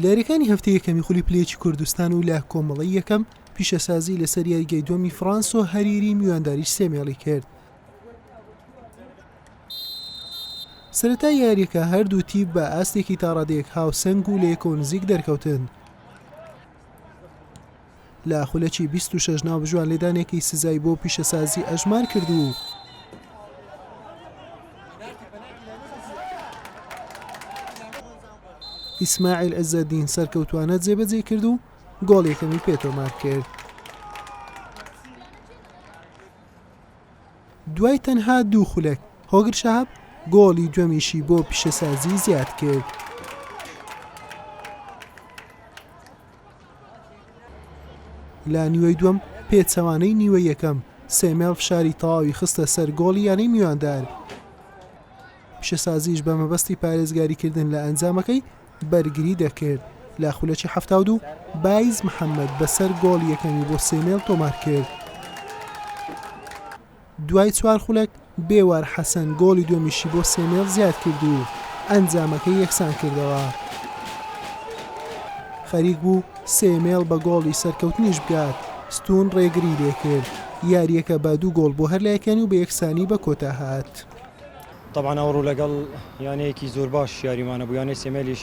لە یاریەکانی هەفتەی یەکەمی خولی پلەیەکی کوردستان و لە کۆمەڵی یەکەم پیشەسازی لەسەر یاریگەی دومی فرانسۆ هەریری میوانداری سێمێڵی کرد سرەتا یاریەکە هەردوو تیپ بە ئاستێکی تاڕادێک هاوسنگ و لە یەکۆ نزیک دەرکەوتن لە خولەکی بیست و شەش ناوبژوان لێدانێکی سزای بۆ پیشەسازی ئەژمار کرد و ئیسماعیل عزەدین سەرکەوتوانە جێبەجێ کرد و گۆڵ یەکەمی پێتۆمار کرد دوای تەنها دوو خولەک هۆگر شاب گۆڵی دومیشی بۆ پیشەسازی زیاد کرد. لە نیوەی دووەم پێچەوانەی نیوەی یەکەم سێمێڵ فشاری تەواوی خستە سەر گۆڵی یانەی میواندار پیشەسازیش بە مەبەستی پارێزگاریکردن لە ئەنجامەکەی بەرگری دەکرد لە خولەکی هەفتا دوو بایز محەممەد بەسەر گۆڵ یەکەمی بۆ سێمێڵ تۆمار کرد دوای چوار خولەک، بێوار حەسەن گۆڵی دووەمیشی بۆ سێمێڵ زیادکرد و ئەنجامەکەی یەکسانکردەوە. خەریک بوو سێمێڵ بە گۆڵی سەرکەوتنیش بگات، ستوون رێگری لێکرد، یارییەکە بە دوو گۆڵ بۆ هەر لایەکانی و بە یەکسانی بە کۆتا هات. تەبعەن ئەوڕۆ لەگەڵ یانەیەکی زۆر باش یاریمان هەبوو، یانەی سێمێلیش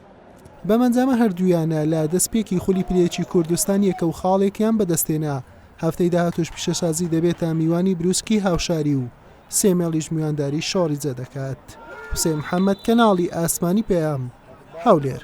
بەم ئەنجامە هەردوویانە لە دەستپێکی خولی پلەیەکی کوردستان یەکە و خاڵێکیان بەدەستهێنا، هەفتەی داهاتووش پیشەسازی دەبێتە میوانی برووسکی هاوشاری و سێ مێڵیش میوانداری شۆڕیزە دەکات. حوسێن محەمەد، کەناڵی ئاسمانی پەیام، هەولێر.